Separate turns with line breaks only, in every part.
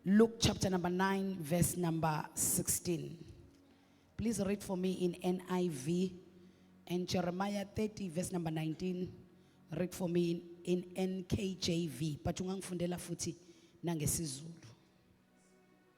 Luke chapter number 9, verse number 16. Please read for me in NIV and Jeremiah 30, verse number 19. Read for me in, in NKJV. But ungangifundela futhi nangesizulu.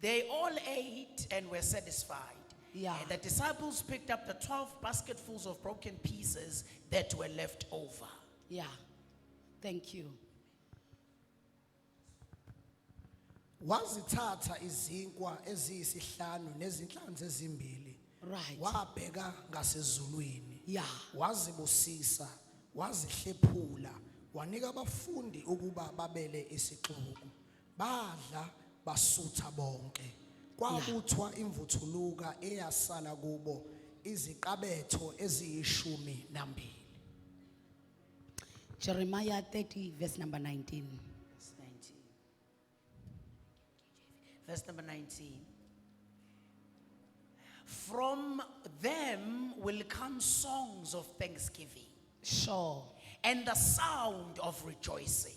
They all ate and were satisfied. Yeah. And the
disciples
picked up the 12 basketfuls of broken pieces that were left over. Yeah.
Thank you.
wazithatha izinkwa eziyisihlanu nezinhlanzi ezimbili Right. wabheka ngasezulwini Yeah.
wazibusisa
wazihlephula wanika abafundi ukuba babele isixuku Badla basutha bonke. Kwabuthwa imvuthuluka eyasala kubo iziqabetho eziyishumi nambili.
Jeremiah 30, verse number 19. Verse 19. Verse
number 19. From them will come songs of thanksgiving Sure.
and the
sound of rejoicing.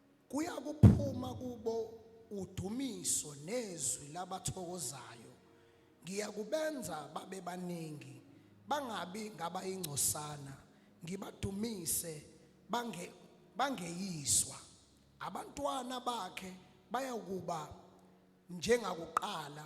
Kuyakuphuma kubo udumiso nezwi labathokozayo. Ngiyakubenza babe baningi, bangabi ngabayingcosana, ngibadumise bange bangeyiswa. Abantwana bakhe bayakuba njengakuqala,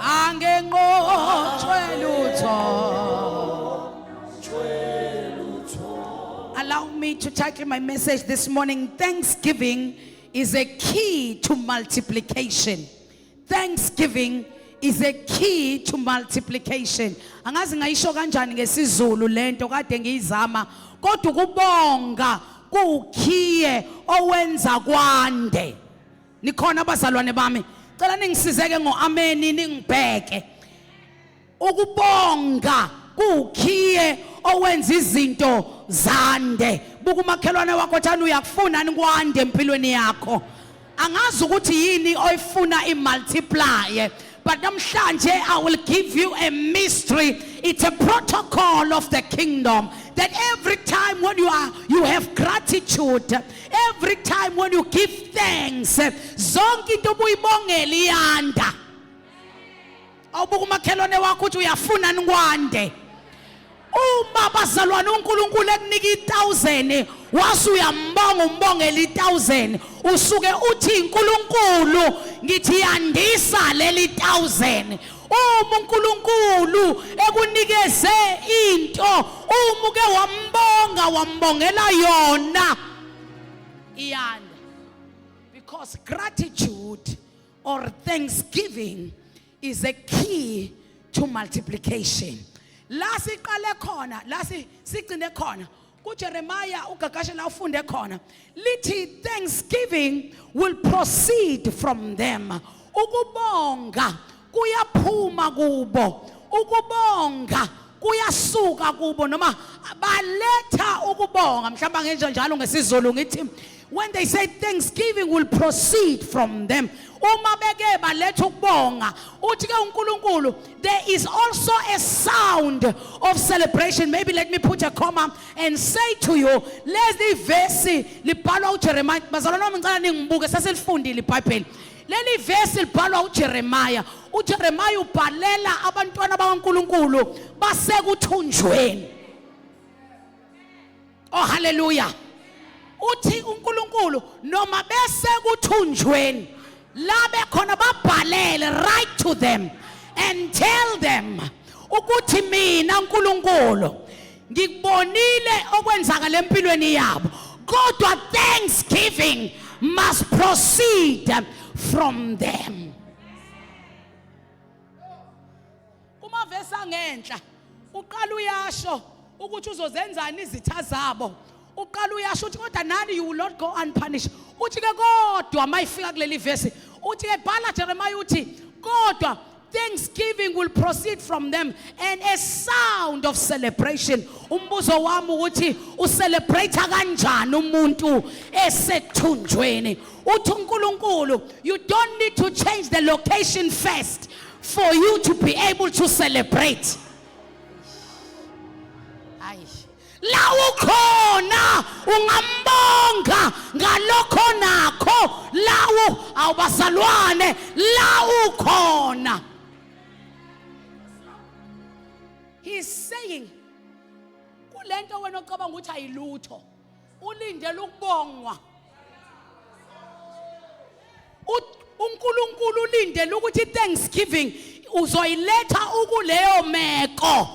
angenqotshwe lutho allow me to title my message this morning thanksgiving is a key to multiplication thanksgiving is a key to multiplication angazi ngayisho kanjani ngesizulu lento kade ngiyizama kodwa ukubonga kuwukhiye owenza kwande nikhona abazalwane bami cela ningisizeke ngoameni ningibheke ukubonga kuwukhiye owenza izinto zande buka umakhelwane wakho thani uyakufuna nikwande empilweni yakho angazi ukuthi yini oyifuna imultiplier But namhlanje I will give you a mystery. It's a protocol of the kingdom that every time when you are you have gratitude, every time when you give thanks, zonke into obuyibongela iyanda. Awubuka umakhelwane wakho uthi uyafunani kwande. uma bazalwane uNkulunkulu ekunika i1000 wase uyambonga umbongela i1000 usuke uthi uNkulunkulu ngithi yandisa leli 1000 uma uNkulunkulu ekunikeze into uma uke wambonga wambongela yona iyanda because gratitude or thanksgiving is a key to multiplication la siqale khona la sigcine khona kuJeremiah ugagashe la ufunde khona lithi thanksgiving will proceed from them ukubonga kuyaphuma kubo ukubonga kuyasuka kubo noma baletha ukubonga mhlawumbe angenje njalo ngesizulu ngithi when they say thanksgiving will proceed from them uma beke baletha ukubonga uthi ke uNkulunkulu there is also a sound of celebration maybe let me put a comma and say to you lezi verse libhalwa uJeremiah bazalwana ngicela ningibuke sesilifundile iBhayibheli leli vesi libhalwa uJeremiya uJeremiya ubhalela abantwana bakaNkuluNkulu basekuthunjweni oh haleluya uthi uNkulunkulu noma bese kuthunjweni la bekhona babhalele right to them and tell them ukuthi mina uNkulunkulu ngikubonile okwenzakala empilweni yabo kodwa thanksgiving must proceed from them kumavesi angenhla uqala uyasho ukuthi uzozenzani izitha zabo uqala uyasho uthi kodwa nani you will not go unpunished uthi ke kodwa mayifika kuleli verse uthi ke bhala Jeremiah uthi kodwa thanksgiving will proceed from them and a sound of celebration umbuzo wami ukuthi ucelebrate kanjani umuntu esethunjweni uthi uNkulunkulu you don't need to change the location first for you to be able to celebrate la ukhona ungambonga ngalokho nakho lawu awubazalwane la ukhona he is saying kulento wena ocabanga ukuthi ayilutho ulindele ukubongwa uNkulunkulu ulindele ukuthi iThanksgiving uzoyiletha ukuleyo meko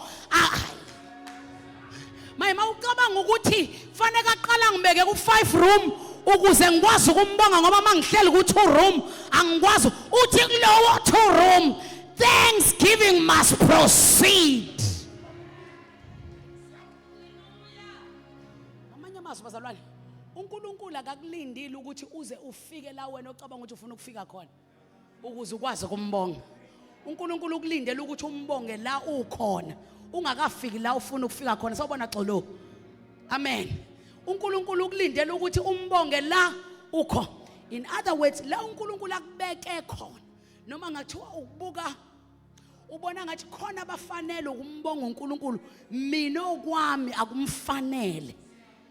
maye mawucabanga ukuthi fanele aqala ngibeke ku 5 room ukuze ngikwazi ukumbonga ngoba mangihleli ku 2 room angikwazi uthi kulowo 2 room thanksgiving must proceed amanye amazwi bazalwane uNkulunkulu akakulindile ukuthi uze ufike la wena ocabanga ukuthi ufuna ukufika khona ukuze ukwazi ukumbonga uNkulunkulu ukulindele ukuthi umbonge la ukhona ungakafiki la ufuna ukufika khona sawubona xolo amen uNkulunkulu ukulindele ukuthi umbonge la ukho in other words la uNkulunkulu akubeke khona noma ngathiwa ukubuka ubona ngathi khona abafanele ukumbonga uNkulunkulu mina okwami akumfanele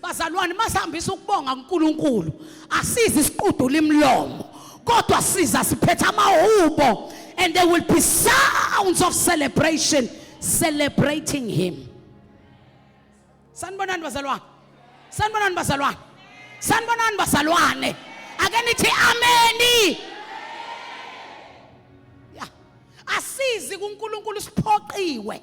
bazalwane masihambisa ukubonga uNkulunkulu asizi isiqudula imlomo kodwa siza siphetha amahubo and there will be sounds of celebration celebrating him sanibonani bazalwane sanibonani bazalwane sanibonani bazalwane ake nithi ameni asizi kuNkulunkulu siphoqiwe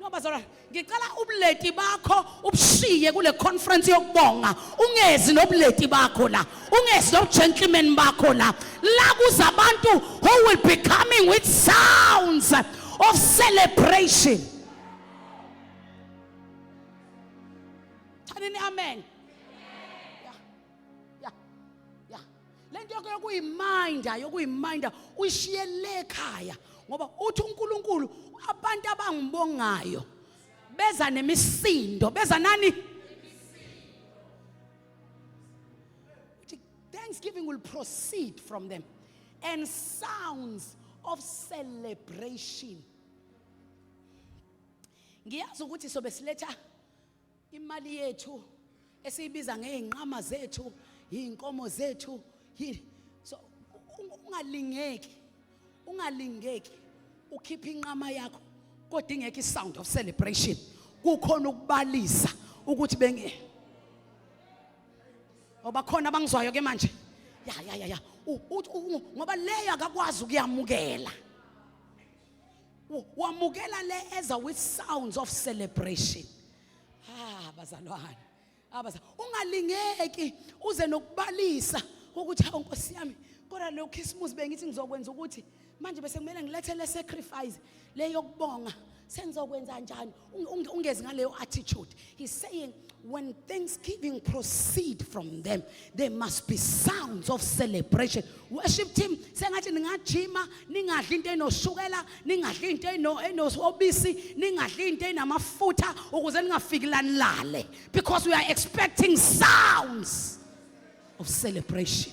No bazalwane, ngicela ubuleti bakho ubushiye kule conference yokubonga. Ungezi nobuleti bakho la. Ungezi nobugentleman bakho la. La kuza abantu who will be coming with sounds of celebration. Thanini amen. ya ya le nto yakho yokuyiminda yokuyiminda uyishiye le ekhaya ngoba uthi uNkulunkulu abantu abangibongayo beza nemisindo beza nani uthi thanksgiving will proceed from them and sounds of celebration ngiyazi ukuthi sobe siletha Imali yethu esiyibiza ngeyinqama zethu, yinkomo zethu, yi so ungalingeki. Ungalingeki ukhipha inqama yakho kodwa ingeke isound of celebration. Kukhona ukubalisa ukuthi benge Oba khona abangizwayo ke manje. Ya ya ya ya. Ngoba leyo akakwazi ukuyamukela. wamukela le eza with sounds of celebration ah bazalwane abaza ah, ungalingeki uze nokubalisa ukuthi hawu nkosi yami kodwa lo Christmas bengithi ngizokwenza ukuthi manje bese kumele ngilethe le sacrifice le yokubonga sengizokwenza njani ungezi ngaleyo attitude he's saying when thanksgiving proceed from them there must be sounds of celebration worship team sengathi ningajima ningadli into enoshukela ningadli into enosobisi ningadli into enamafutha ukuze ningafiki lanilale because we are expecting sounds of celebration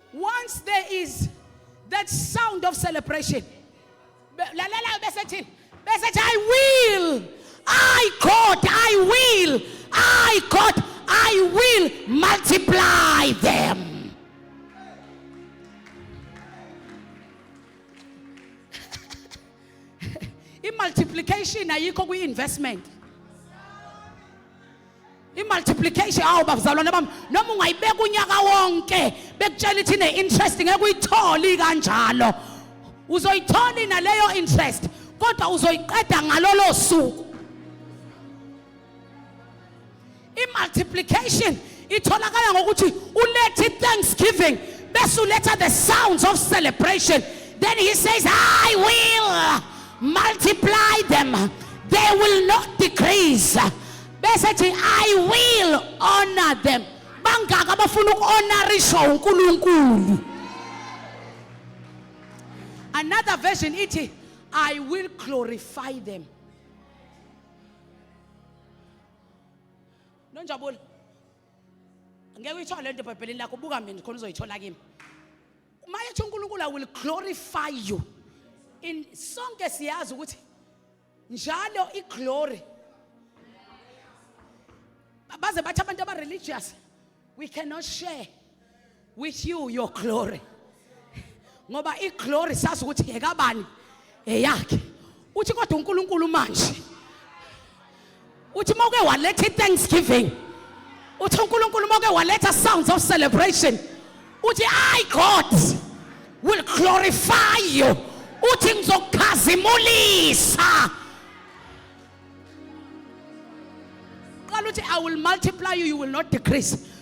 once there is that sound of celebration lalela bese thini bese thi i will i god i will i god i will multiply them i-multiplication ayikho kwi-investment imultiplication awu bafuzalwane bami noma ungayibeka unyaka wonke bekutshela ithi ne-interest ngeke uyitholi kanjalo uzoyitholi naleyo interest kodwa uzoyiqeda ngalolo suku imultiplication itholakala ngokuthi ulethe thanksgiving bese uletha the sounds of celebration then he says i will multiply them they will not decrease bese thi i will honor them bangaka abafuna ukuhonorishwa uNkulunkulu another version ithi i will glorify them nonjabulo ngeke uyithole lento ebhayibhelini lakho buka mina khona uzoyithola kimi Mayethu uNkulunkulu I will glorify you. In sonke siyazi ukuthi njalo iglory baze bathi abantu aba religious we cannot share with you your glory ngoba iglory sazi ukuthi yekabani eyakhe uthi kodwa uNkulunkulu manje uthi uma uke waletha i-thanksgiving uthi unkulunkulu uma uke waletha sounds of celebration uthi i god will glorify you uthi ngizokukhazimulisa qala uthi i will multiply you you will not decrease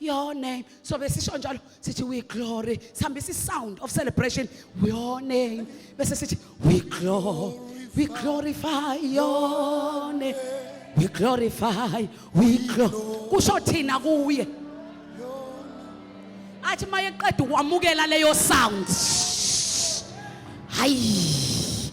your name so besisho njalo sithi we glory sihambisa isound of celebration your name bese sithi we glory we glorify your name we glorify we glorify kusho thina kuye athi mayeqeda ukwamukela leyo sound hayi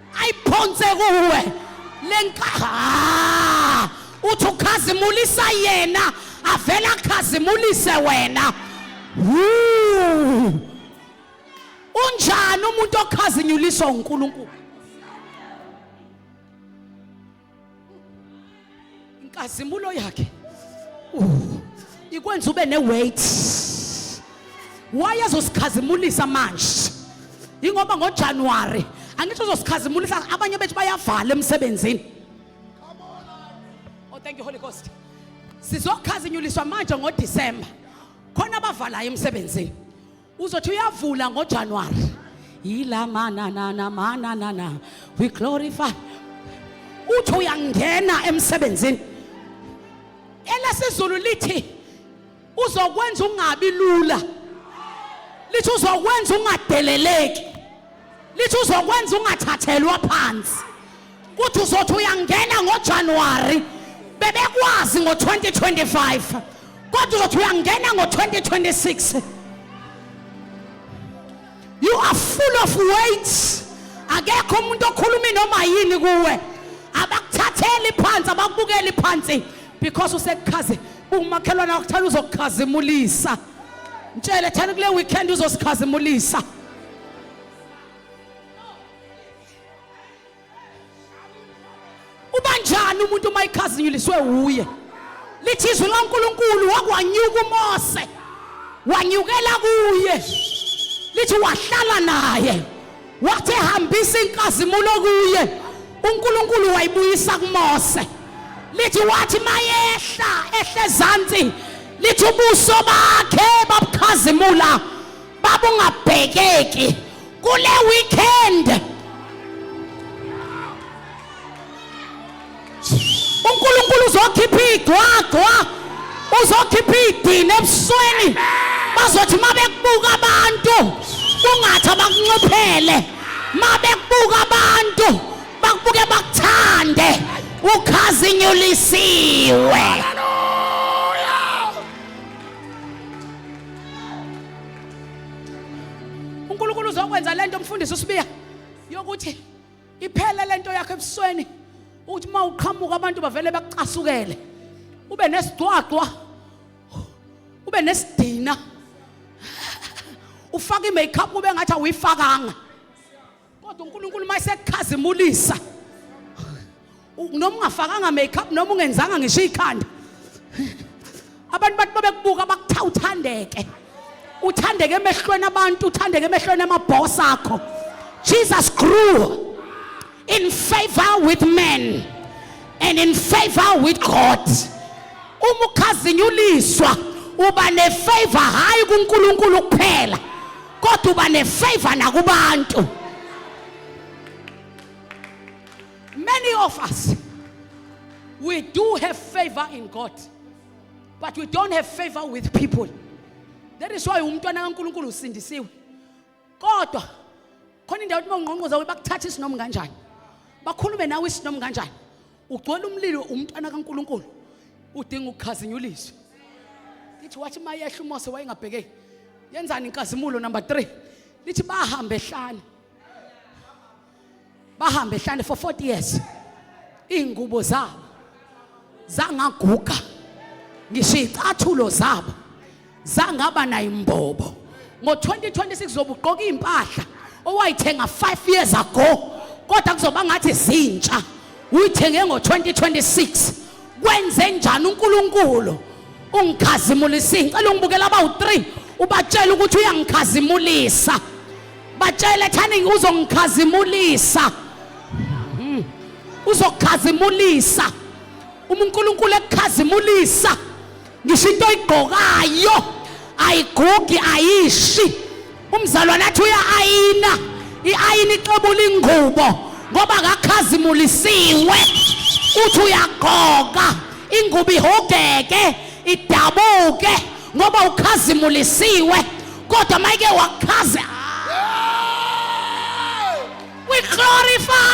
ayiphonse kuwe lenkaha uthi ukhazimulisa yena avela akhazimulise wena unjani umuntu okhazinyuliswa uNkulunkulu inkazimulo yakhe uh, ikwenza ube ne-weight wayezosikhazimulisa manje yingoba ngojanuwari angisho uzosikhazimulisa abanye bethu bayavala emsebenzini oh thank you holy ghost sizokhazinyuliswa manje ngodisemba khona abavalayo emsebenzini uzothi uyavula ngojanuwari yila mananana mananana we glorify uthi uyangena emsebenzini elesizulu lithi uzokwenza ungabi lula lithi uzokwenza ungadeleleki lithi uzokwenza ungathathelwa phansi kuthi uzothi uyangena ngoJanuary bebekwazi ngo-2025 kodwa uzothi uyangena ngo-2026 you are full of weight akekho umuntu okhuluma noma yini kuwe abakuthatheli phansi abakubukeli phansi because usekukhaze umakhelwane wakuthanda uzokukhazimulisa mtshele thani kule weekend uzosikhazimulisa ubanjani umuntu uma ikhazinyuliswe wuye lithi izwi lankulunkulu wakwanyuka umose wanyukela kuye lithi wahlala naye wathi ehambisa inkazimulo kuye unkulunkulu wayibuyisa kumose lithi wathi mayehla ehle ezantsi lithi ubuso bakhe babukhazimula baba ungabhekeki kule weekend uNkulunkulu uzokhipha igcwagcwa uzokhipha idini ebusweni bazothi mabekubuka abantu kungathi abakunxiphele mabekubuka abantu bakubuke bakuthande ukhazinyulisiwe uNkulunkulu uzokwenza lento umfundisi usibiya yokuthi iphele lento yakhe ebusweni ukuthi uma uqhamuka abantu bavele bakucasukele ube nesigcwagcwa ube nesidina ufaka i-makeup ube ngathi awuyifakanga kodwa uNkulunkulu mayesekukhazimulisa noma ungafakanga makeup noma ungenzanga ngisho ikhanda abantu bathi babekubuka bakutha uthandeke uthandeke emehlweni abantu uthandeke emehlweni amabhoss akho Jesus grew in favor with men and in favor with God uma ukhazinyuliswa uba nefavor hayi kuNkulunkulu kuphela kodwa uba nefavor nakubantu many of us we do have favor in god but we don't have favor with people that is why umntwana kankulunkulu usindisiwe kodwa khona indawo ukuthi uma ungqongqoza bakuthatha isinomu kanjani bakhulume nawe isinomu kanjani ugcwele umlilo umntwana kaNkuluNkulu udinga ukukhazinyuliswa lithi wathi mayehla uMose wayengabhekeki yenzani inkazimulo number 3 lithi bahambe ehlane bahambe ehlane for 40 years iingubo zabo zangaguga ngisho icathulo zabo zangaba nayo imbobo ngo-2026 zobugqoka iy'mpahla owayithenga 5 years ago kodwa kuzoba ngathi zintsha uyithenge ngo-2026 kwenze njani unkulunkulu ungikhazimulisa ngicela ungibukela abawu-3 ubatshela ukuthi uyangikhazimulisa batshele thani uzongikhazimulisa hmm. uzokukhazimulisa uma unkulunkulu ekukhazimulisa ngisho into oyigqokayo ayigugi ayishi umzalwane athi uya-ayina i-ayina ixebula ingubo ngoba kakhazimulisiwe uthi uyagqoka ingubo ihogeke idabuke ngoba ukhazimulisiwe kodwa mayike wakhaze we glorify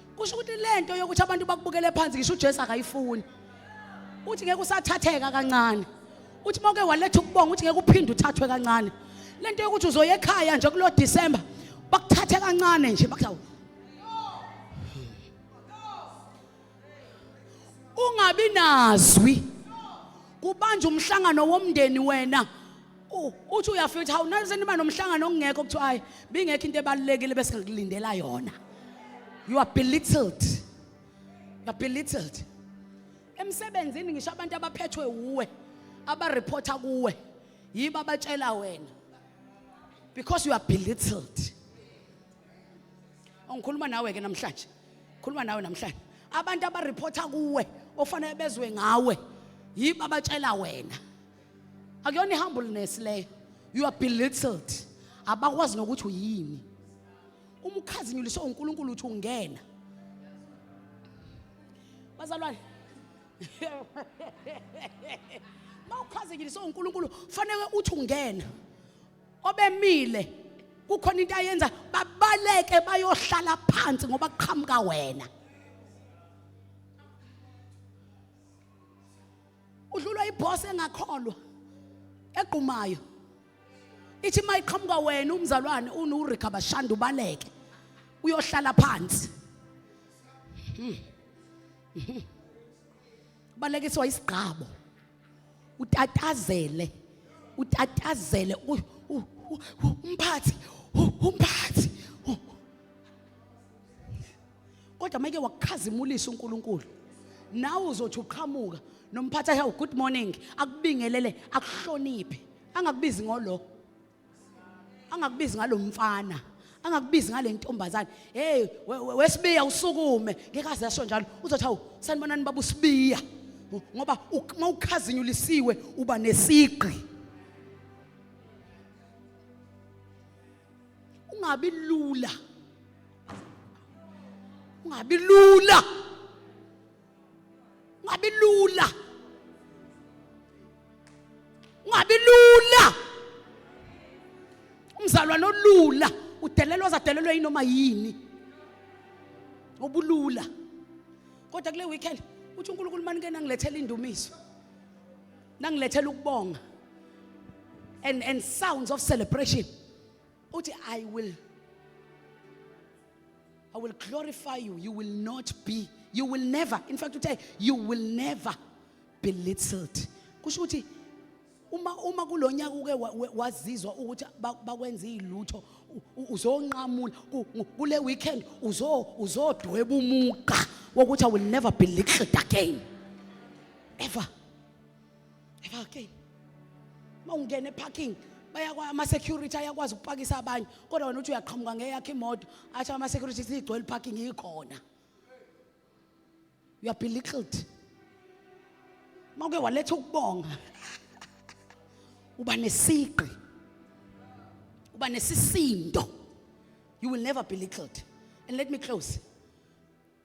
kusho ukuthi lento yokuthi abantu bakubukele phansi ngisho uJesu akayifuni uthi ngeke usathatheka kancane uthi moke waletha ukubonga uthi ngeke uphinde uthathwe kancane lento yokuthi uzoya ekhaya nje kulo December bakuthathe kancane nje bakuthawu ungabi nazwi kubanje umhlangano womndeni wena U- uthi uyafika uthi hawu nayo seniba nomhlangano okungekho kuthiwa hayi bingekho into ebalulekile bese ngikulindela yona you are belittled you are belittled emsebenzini ngisho abantu abaphethwe wuwe abareporta kuwe yibo abatshela wena because you are belittled ongikhuluma nawe ke namhlanje khuluma nawe namhlanje abantu abareporta kuwe ofanele bezwe ngawe yibo abatshela wena akuyona i-humbleness leyo you are belittled abakwazi nokuthi uyini uma ukhazinyuliswe uNkulunkulu uthi ungena bazalwane uma ukhazinyuliswe uNkulunkulu fanele uthi ungena obemile kukhona into ayenza babaleke bayohlala phansi ngoba kuqhamuka wena udlulwa iboss engakholwa egqumayo ithi mayiqhamuka wena umzalwane unuRika bashanda ubaleke uyohlala phansi hmm. Hmm. balekiswa isigqabo utatazele utatazele umphathi umphathi kodwa make wakukhazimulisa uNkulunkulu nawe uzothi uqhamuka nomphathi ahe good morning akubingelele akuhloniphe angakubizi ngolo angakubizi ngalomfana angakubizi ngale ntombazane hey wesibiya usukume ngeke aze asho njalo uzothi hawu sanibonani baba usibiya ngoba uma ukhazinyulisiwe uba nesigqi ungabi lula ungabi lula ungabi lula ungabi lula umzalwane olula udelelwa zadelelwe yinoma yini obulula kodwa kule weekend uthi uNkulunkulu mani ke nangilethela indumiso nangilethela ukubonga and and sounds of celebration uthi i will i will glorify you you will not be you will never in fact uthe you will never be littled kusho ukuthi uma uma kulonyaka uke wazizwa ukuthi bakwenza izilutho uzonqamula kule weekend uzo uzodweba umuqa wokuthi i will never be littled again ever Ephakeni. Mawungena eparking bayakwa ama security ayakwazi ukupakisa abanye kodwa wena uthi uyaqhamuka ngeyakhe imoto athi ama security sigcwele parking ikhona. You are belittled. Mawuke waletha ukubonga. Uba nesiqi. Uba nesisindo. You will never be belittled. And let me close.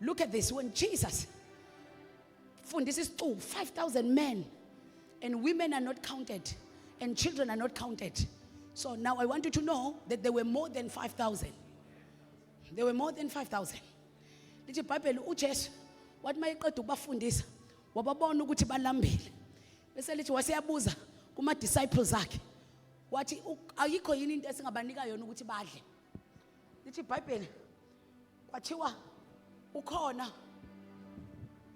Look at this when Jesus fundisa isicubu 5000 men and women are not counted and children are not counted. So now I want you to know that there were more than 5000. There were more than 5000. Lithi iBhayibheli uJesu wathi mayeqeda ukubafundisa wababona ukuthi balambile. Bese lithi waseyabuza kuma disciples akhe wathi ayikho yini into esingabanika yona ukuthi badle. lithi ibhayibheli kwathiwa ukhona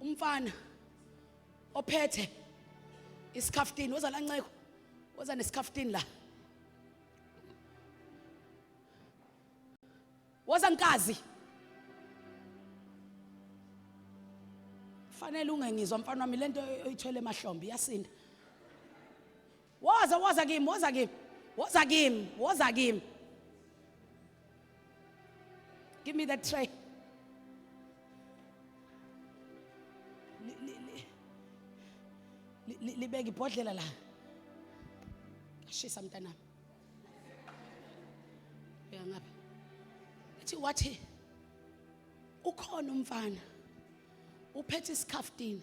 umfana ophethe isikhaftini woza la nceko woza nesikhaftini la woza nkazi fanele ungengizwa mfana wami lento oyithwele emahlombe iyasinda Woza woza kimi, woza kimi. Woza kimi, woza kimi. Give me the tray. libeke ibhodlela la ashisa mntanami uya ngapha athi wathi ukhona umfana uphethe isikhafutini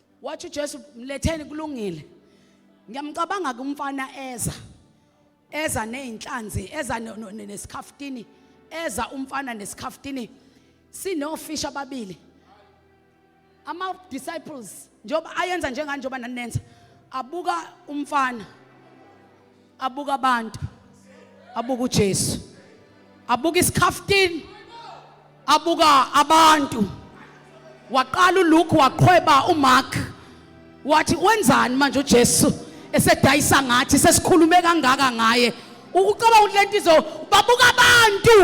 wathi uJesu mletheni kulungile ngiyamcabanga ke umfana eza eza nezinhlanzi eza nesikhafutini eza umfana nesikhafutini sinofish ababili ama disciples njengoba ayenza njenganje njengoba nanenza abuka umfana abuka abantu abuka uJesu abuka isikhaftin abuka abantu waqala uLuke waqhweba uMark wathi wenzani manje uJesu esedayisa ngathi sesikhulume kangaka ngaye ukucabanga ukuthi lento izo babuka abantu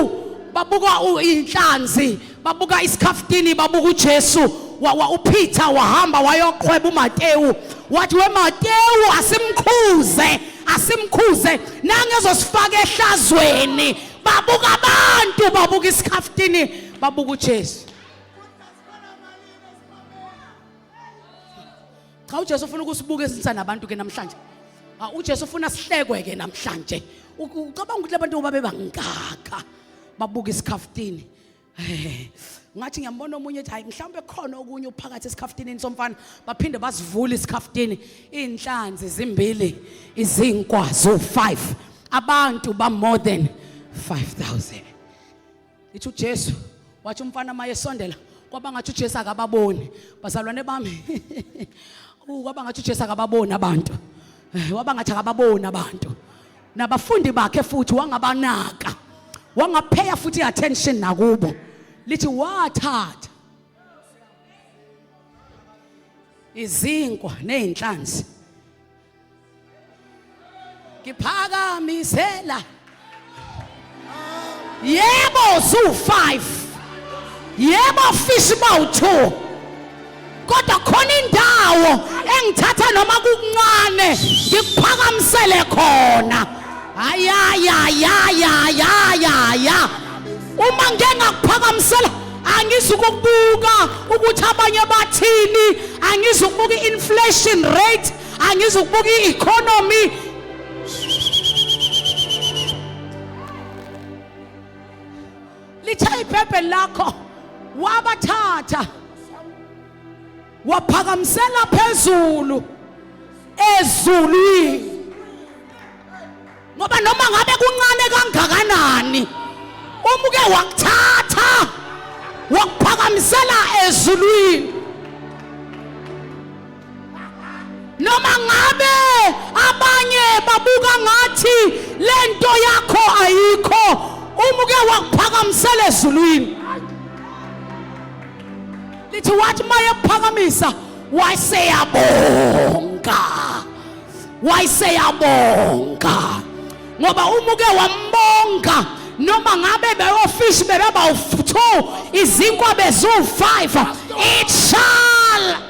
babuka inhlanzi babuka isikhaftini babuka uJesu wa, wa uPeter wahamba wayoqhweba uMatewu wathi weMatewu asimkhuze asimkhuze nangezosifaka ehlazweni babuka abantu babuka isikhaftini babuka uJesu cha uJesu ufuna ukusibuka esinsa nabantu ke namhlanje ah, uJesu ufuna sihlekwe ke namhlanje ucabanga ukuthi labantu babe bangaka babuka isikhaftini ngathi ngiyambona omunye ethi hayi mhlawumbe khona okunye uphakathi esikhafutinini somfana baphinde basivule isikhafutini izinhlanzi zimbili izinkwa zo 5 abantu ba more than 5000 ithi uJesu wathi umfana maye sondela kwaba ngathi uJesu akababoni bazalwane bami kwaba ngathi uJesu akababoni abantu eh, waba ngathi akababoni abantu nabafundi bakhe futhi wangabanaka wangapheya futhi i-attention nakubo lithi wathatha izinkwa nezinhlanzi ngiphakamisela yebo ziwu-5 yebo ofisa uba u-2 kodwa khona indawo engithatha noma kukuncane ngikuphakamisele khona ayayayayayaya uma ngike ngakuphakamisela angizukukubuka ukuthi abanye bathini angizukubuka i-inflation rate angizukubuka i-economy litshaya ibhebheli lakho wabathatha waphakamisela phezulu ezulwini ngoba noma ngabe kuncane kangakanani uma uke wakuthatha wakuphakamisela ezulwini noma ngabe abanye babuka ngathi le nto yakho ayikho uma uke wakuphakamisela ezulwini lithi wathi uma yekuphakamisa wayeseyabonga wayeseyabonga ngoba uma uke wambonga noma ngabe beyofishi bebebawuthu izinkwa beziwu-five it shall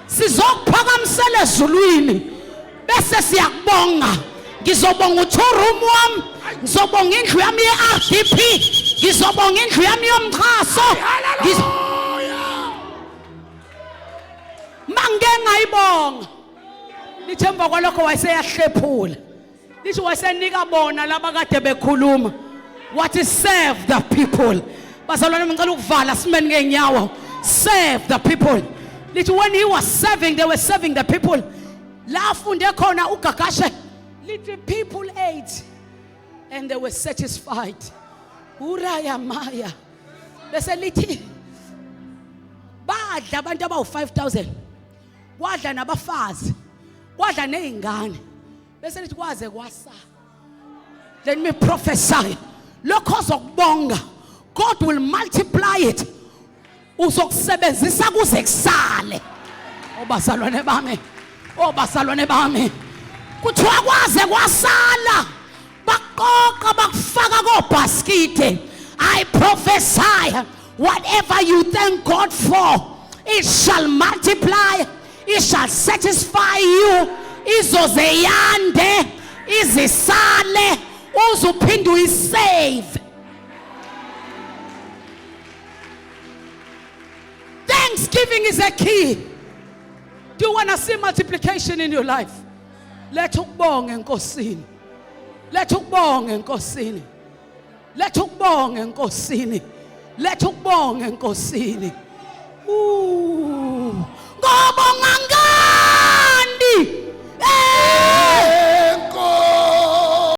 sizokuphakamisela ezulwini bese siyakubonga ngizobonga u-two room wami ngizobonga indlu yami ye-r d p ngizobonga indlu yami yomxhaso ma ngike ngayibonga lithi emva kwalokho wayeseyahlephula lisho wasenika bona laba kade bekhuluma wathi serve the people bazalwane ngicela ukuvala simeni ngenyawo serve the people lithi when he was serving they were serving the people la afunde khona ugagashe lithi people ate and they were satisfied uraya maya bese lithi badla abantu abawu-5000 kwadla nabafazi kwadla nezingane bese lithi kwaze kwasa let me prophesy lokho ozokubonga god will multiply it uzokusebenzisa kuze kusale obazalwane bami obazalwane bami kuthiwa kwaze kwasala bakuqoqa bakufaka kobhaskide i prophesy whatever you thank god for it shall multiply it shall satisfy you izoze yande izisale uze uphinde uyisave thanksgiving is a key do you want to see multiplication in your life letha ukubonga enkosini letha ukubonga enkosini letha ukubonga enkosini letha ukubonga enkosini ngoba ngangani eh